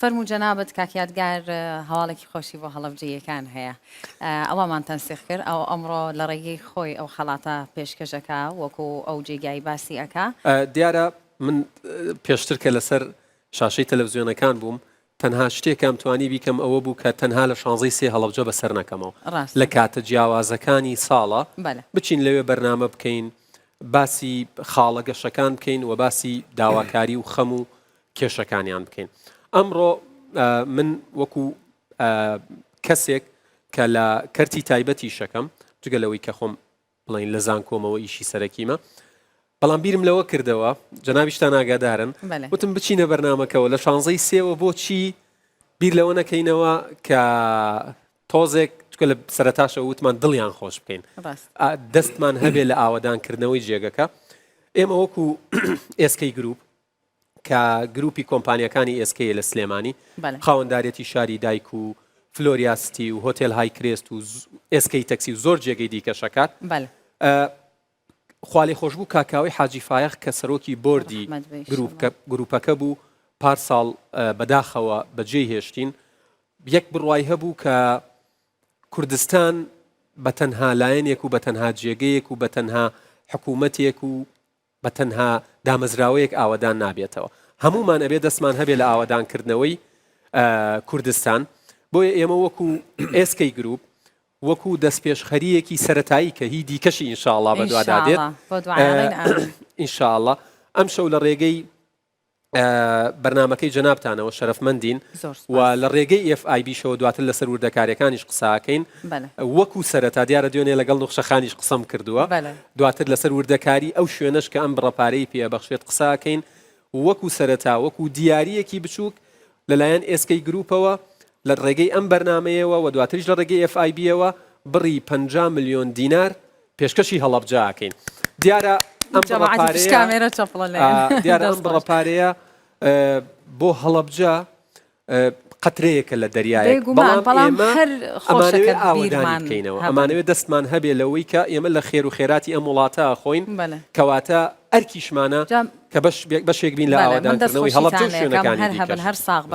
فەرموو جەنابت کاک یادگار هەواڵێکی خۆشی بۆ هەڵەبجەییەکان هەیە ئەوەمان تەنسیخ کرد ئەو ئەمڕۆ لە ڕێگەی خۆی ئەو خەڵاتە پێشکەش ئەکا وەکو ئەو جێگای باسی ئەکا. دیارە من پێشتر کە لەسەر شاشەی تەلەفزیۆنەکان بووم تەنها شتێ کەم توانی بیکەم ئەوە بوو کە تەنها لە شانزەی سێ هەڵەبجە بە سەر نەکەمەوە لە کاتە جیاوازەکانی ساڵە بچین لەوێ بەرنامە بکەین باسی خاڵە گەشەکان بکەین و باسی داواکاری و خەم و کێشەکانیان بکەین ئەمڕۆ من وەکو کەسێک کە لە کەرتی تایبەتی شەکەم جگە لەوەی کە خۆم بڵین لە زانکۆمەوە ئیشی سەرەکیمە بەڵام بیرم لەوە کردەوە جەناویشتان ئاگادارن وتم بچینە بەرنمەکەەوە لە شانزەی سێوە بۆچی بیر لەوە نەکەینەوە کە تۆزێک چکە لە سەرتاشە وتمان دڵیان خۆش بکەین دەستمان هەبێ لە ئاوادانکردنەوەی جێگەکە ئێمە وەکو ئێسکەی گروپ کە گروپی کۆمپانیاکانی ئێس کەیە لە سلێمانی، بەڵێ. خاوەندارێتی شاری دایک و فلۆریا ستی و هۆتێل های کرێست و ئێس کەی تەکسی و زۆر جێگەی دیکەش ئەکات. بەڵێ. خوالێخۆشبوو کاک کاوەی حاجی فایەق کە سەرۆکی بۆردی ڕەحمەت بێ گروپ ئیشەڵا. گروپەکە بوو پار ساڵ بەداخەوە بەجێی هێشتین. یەک بڕوای هەبوو کە کوردستان بە تەنها لایەنێک و بە تەنها جێگەیەک و بە تەنها حکوومەتێک و بە تەنها دامەزراوەیەک ئاوەدان نابێتەوە، هەموومان ئەبێ دەستمان هەبێ لە ئاوەدانکردنەوەی کوردستان، بۆیە ئێمە وەکو ئێسکەی گروپ، وەکو دەستپێشخەریەکی سەرەتایی کە هی دیکەشی ئینشاڵا بەدوادادێت ئینشاڵا ئەمشەو لە ڕێگەی بەرنامەکەی جەنابتانەوە شەرەفمەندین زۆر و سوپاس لە ڕێگەی ئێف ئای بیشەوە دواتر لەسەر وردەکاریەکانیش قساکەین بەلێ وەکو سەرەتا دیارە دوێنێ لەگەڵ نوخشە خانیش قسەم کردووە بەلێ. دواتر لەسەر وردەکاری ئەو شوێنەش کە ئەم بڕە پارەی پێ ئەبەخشێت قساکەین وەکو سەرەتا وەکو دیاریەکی بچوک لەلایەن ئێسکەی گروپەوە لە ڕێگەی ئەم بەرنامەیەوە و دواتریش لە ڕێگەی ئێف ئای بیەوە بڕی پەنجا ملیۆن دینار پێشکەشی هەڵەبجە ئەکەین دیارە ئەم بڕە پارەیە دیارە ئەم بڕە پارەیە بۆ هەڵەبجە قەترەیەکە لە دەریای بەڵام هەر خۆشەکە ئاوەدان بکەینەوە ئەمانەوێت دەستمان هەبێ لەوەی کە ئێمە لە خێر و خێراتی ئەم وڵاتە خۆین کەواتە ئەرکیشمانە کە بەشێک بین لە ئاوادانکردنەوەی هەڵەبجە و شوێنەکانی هەر ساغ